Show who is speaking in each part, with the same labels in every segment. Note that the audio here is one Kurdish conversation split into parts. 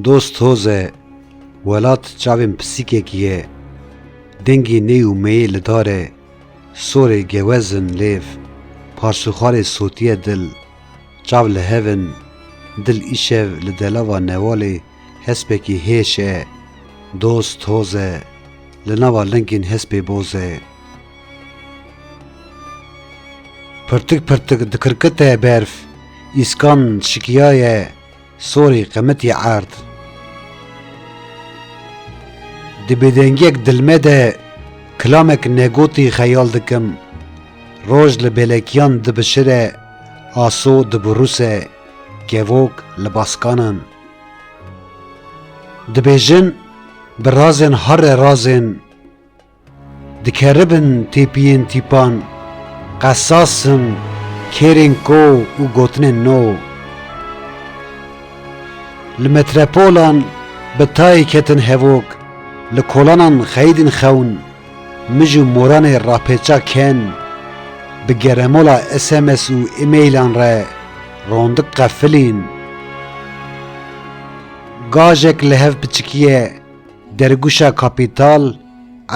Speaker 1: Dost hoz e, welat çavên pisîkekî ye, dengê ney û meyê li dar e, sorê gewez in lêv, parsûxarê sotiye dil, çav li hev in, dil îşev li delava newalê Hespekî hêş e, doz toz e, li nava lingên hespê boz e. Pirtik pirtik dikirkite berf, îskan şikiyaye, sorê qemitî erd. Di bêdengiyek dilme de kilamek negotî xeyal dikim, roj li bêlekiyan dibişire, aso dibiruse, kevok li baskanan. Dibêjin bi razên herre razên dikeribin têpiyên tîpan, qesas in, kêrên ko û gotinên no. Li metrepolan bi tayê ketin hevok, li kolanan xeyidîn xewn. Mij û moranê rapêça ken bi geremola sms û emaîlan re rondik qefilîn. Gajek li hev piçikîye dergûşa kapîtal,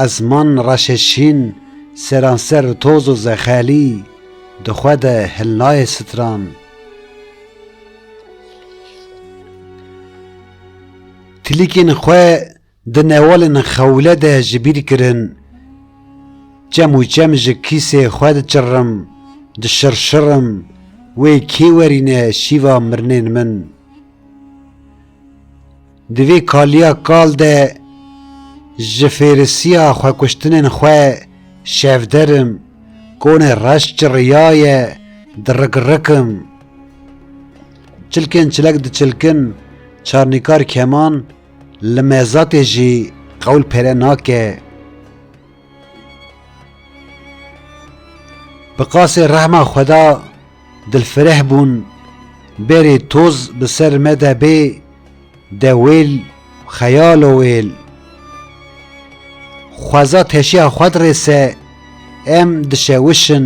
Speaker 1: ezman reşê şîn, seranser toz û zexelî di xwe de hilnayê stran. Tilîkên xwe Di newalên xewle de ji bîr kirin, çem û çem ji kîsê xwe diçirrim, dişirşirim, wê kê werîne şîva mirinên min. Di vê kaliya kal de ji fêrisiya xwekuştinên xwe şevder im, konê reş çirriyaye, dirik-rik im. Çilkên çilek diçilkin, çarnîkar keman, Li mezatê jî qewl pere nake. Bi qasê rehma xweda dilfireh bûn bêrê toz bi ser me de bê de wêl xeyalo wêl. Xweza teşiya xwed rê se em dişewişin.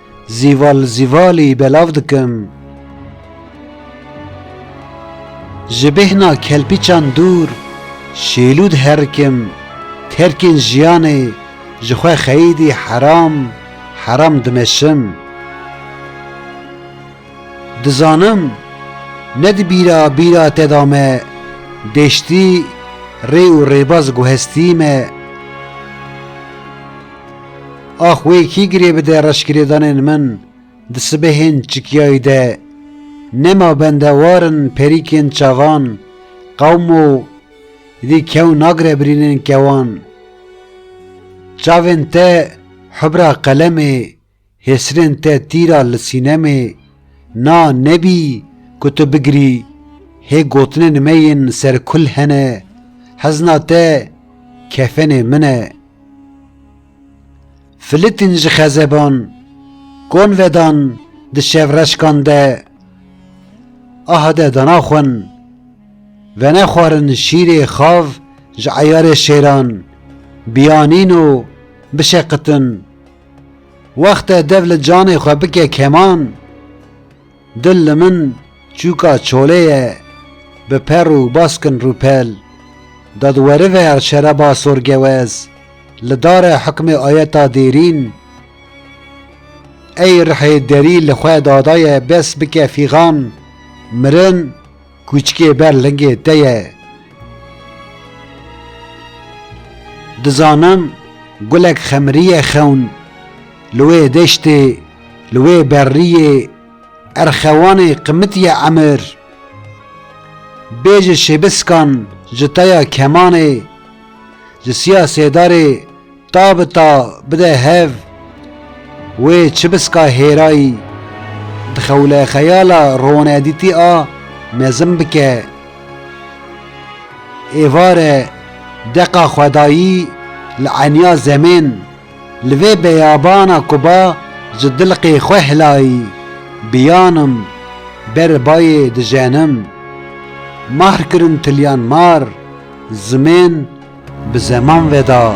Speaker 1: Zîval zîvalî belav dikim. Ji bêhna kelpîçan dûr şêlûd herikim terkên jiyanê ji xwe xeyîdî heram heram dimeşim. Dizanim ne di bîra bîra te de me deştî rê û rêbaz guhestî me. Ax wê kî girê bide reşgirêdanên min di sibehên çikiyayî de. Nema bende war in perîkên çavan qewm û dî kew nagre birînên kewan. Çavên te hubra qelemê Hêsirên te tîra li sînemê na nebî ku tu bigirî hê gotinên me yên ser kul hene hezna te kefenê min e. Filitîn ji xezeban kon vedan di şevreşkan de aha de dana xwin venexwarin şîrê xav ji eyarê şêran biyanîn û bişeqitin Wexte dev li canê xwe bike keman, dil li min çûka çolê ye bi per û baskin rûpel. Dadwerive ya şereba sorgewez li dare hukmê ayeta dêrîn ey rihê derî li xwe dadaye bes bike fîxan mirin, Kûçikê ber lingê te ye. Dizanim gulek xemrîye xewn li wê deştê li wê berrîyê erxewanê qimitiye emir. Bê ji şêbiskan ji taya kemanê ji siya sêdarê Ta bi ta bide hev wê çibiska hêrayî di xewlexeyala ronedîtî a mezin bike. Êvare deqa xwedayî li eniya zemên, li vê beyabana ku ba ji dilqê xwe hilayî, biyanim ber bayê dijenim. Markirin tiliyan mar, zimên. Bi zeman veda.